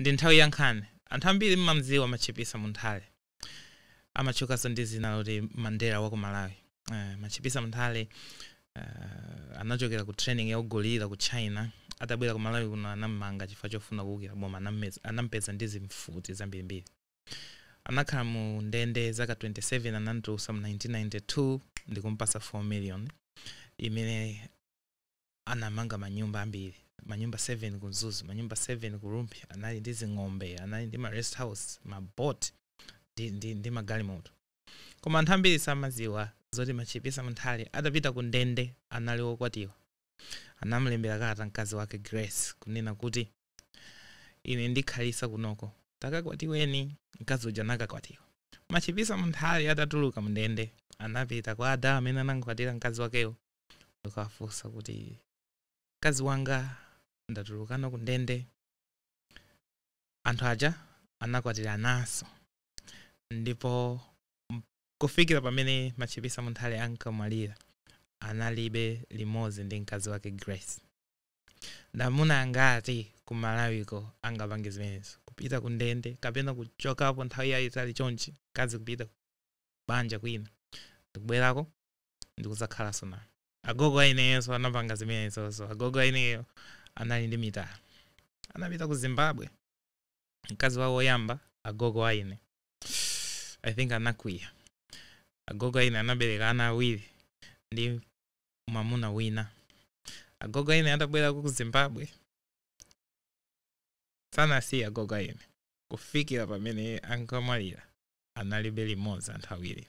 Ndi nthawi ya nkhani. Anthu ambiri mmamdziwa Matchipisa Munthali. Amatchukanso ndi dzina loti Mandela wa ku Malawi. Eh, Matchipisa Munthali eh, anachokera ku training ya ugorila ku China. Atabwera ku Malawi kuno anammanga chifukwa chofuna kuukira boma. Anammeza- Anampeza ndi zimfuti zambirimbiri. Anakhala mu ndende zaka 27 anamtulutsa mu 1992 ndikumpasa 4 million imene anamanga manyumba ambiri manyumba 7 ku mzuzu manyumba 7 ku rumphi anali ndi zing'ombe anali ndi ma rest house ma boat ndi, ndi, ndi magalimoto koma anthu ambiri samadziwa zoti machipisa munthali atapita ku ndende anali wokwatira anamlembera kalata mkazi wake grace kunena kuti ine ndikhalitsa kunoko takakwatiweni mkazi uja anakakwatiwa machipisa munthali atatuluka mndende anapita kwa ada amene anamkwatira mkazi wakewo ndikuwafunsa kuti mkazi wanga ndatulukanso ku ndende anthu aja anakwatirananso ndipo m- kufikira pamene machipisa munthali ankamwalira analibe limodzi ndi mkazi wake grace ndamuna angati ku malawiko angapange zimenezo kupita ku ndende kapena kuchokapo nthawi yayitali chonchi mkazi kupita banja kwina ndikubwerako ndikudzakhalanso naye agogo aineyonso anapanga zimenezozo agogo aineyo anali ndi mitala anapita ku zimbabwe mkazi wawo woyamba agogo aine i think anakwiya agogo aine anabereka ana awiri ndi mwamuna wina agogo aine atabwera ku zimbabwe sanawasiye agogo aine kufikira pamene ankamwalira analibe limodzi anthu awiri